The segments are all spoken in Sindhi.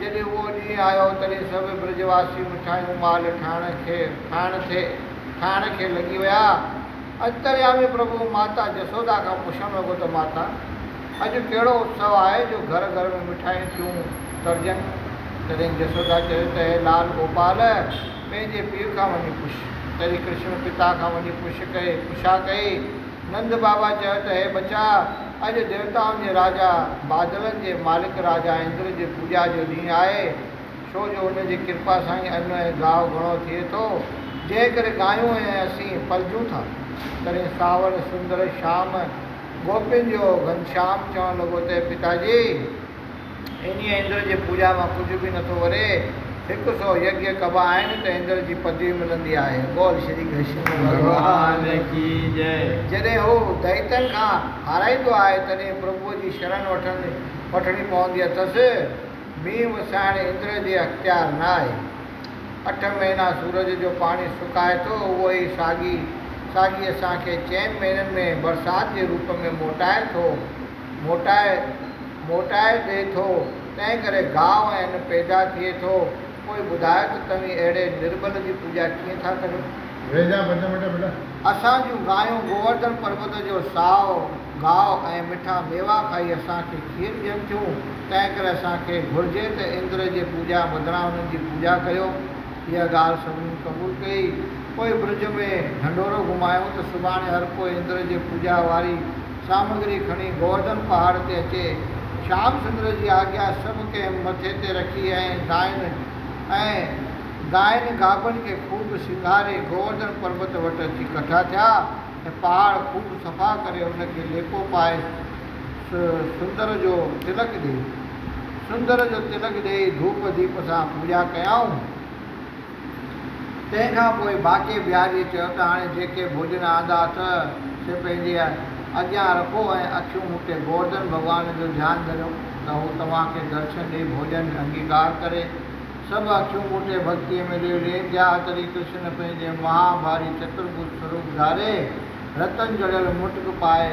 جڏهن اهو ڏينهن آيو، تڏهن سڀ برج واسي مٺايون مال ٺاهڻ کي کائڻ ٿي کائڻ کي لڳي ويا. اڄ درياء ۾ پرڀو ماتا جسودا کان پڇڻ لڳو ته ماتا! اڄ ڪهڙو اتسو آهي جو گهر گهر ۾ مٺايون ٿيون ترجن؟ تڏهن جسودا چيو ته اي لال گوپال! پنهنجي پيء کان وڃي پڇ. تڏهن ڪرشڻ پتا کان وڃي پڇ ڪئي پڇا ڪئي. نند بابا چيو ته هي ٻچا! اڄ ديوتائن جي راجا، بادلن جي مالڪ راجا اندر جي پوڄا جو ڏينهن آهي، ڇو جو ان جي ڪرپا سان ئي ان ۽ گاهه گهڻو ٿئي ٿو، جنهن ڪري گايون ۽ اسين پلجون ٿا. تڏهن سانوڻ سندر شام گوپين جو گهنشام چوڻ لڳو ته هي پتاجي! انهيء اندر جي پوڄا مان ڪجهه به نٿو وري. هڪ سؤ يگيا ڪبا آهن ته اندر جي پدوي ملندي آهي. بول شري ڪرشن ڀڳوان جي جئه. جڏهن هو دئيتن کان هارائيندو آهي تڏهن پرڀوء جي شرڻ وٺڻي پوندي اٿس. مينهن وسائڻ اندر جي اختيار نه آهي. اٺ مهينا سورج جو پاڻي سڪائي ٿو، اهو ئي ساڳي ساڳي اسان کي چئن مهينن ۾ برسات جي روپ ۾ موٽائي ٿو. موٽائي موٽائي ڏئي ٿو، تنهن ڪري گاء ۽ پيدا ٿئي ٿو. پوء ٻڌايو ته توهين اهڙي نربل جي پوڄا ڪيئن ٿا ڪريو؟ ويجها بچه مٽ بيٽا. اسان جون گايون گوورڌن پربت جو سائو گاء ۽ مٺا ميوا کائي اسان کي کير ڏين ٿيون، تنهن ڪري اسان کي گهرجي ته اندر جي پوڄا بدران انهن جي پوڄا ڪيو. اها ڳالهه سڀني قبول ڪئي. پوء برج ۾ ڍنڍورو گهمايائون ته سڀاڻي هر ڪو اندر جي پوڄا واري سامگري کڻي گورڊن پهاڙ تي اچي شيام سندر جي آگيا سڀ ڪنهن مٿي تي رکي ۽ دائن ۽ گائن گابن کي خوب سينگاري گوورڌن پربت وٽ اچي ڪٺا ٿيا ۽ پهاڙ خوب صفا ڪري ان کي ليپو پائي سندر جو تلڪ ڏئي سندر جو تلڪ ڏئي ڌوپ ديپ سان پوڄا ڪيائون. تنهن کان پوء باقي بهاريء چيو ته هاڻي جيڪي ڀوڄن آندا اٿئه، سي پنهنجي اڳيان رکو ۽ اکيون مون تي گوردن ڀڳوان جو ڌيان ڌريو ته هو توهان کي درشن ڏئي ڀوڄن جو انگيڪار ڪري. سڀ اکيون مون تي ڀڳتيء ۾ ليو لين جا هتري ڪرشن پنهنجي مها ڀاري چترڀج سوروپ ڌاري، رتن جڙيل مٽڪ پائي،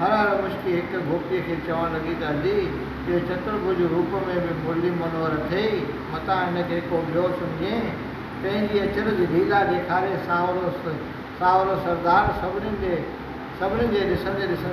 هر هر مشڪي هڪ گوپيء کي چوڻ لڳي ته ادي، اهو چترڀوء جو روپ ۾ به مرلي منور اٿئي، متان هن کي ڪو ٻيو سمجهين. پنهنجي اچرج ليلا ڏيکاري سانورو سانورو سردار سڀني ڏي سڀني جي ڏسندي ڏسندي.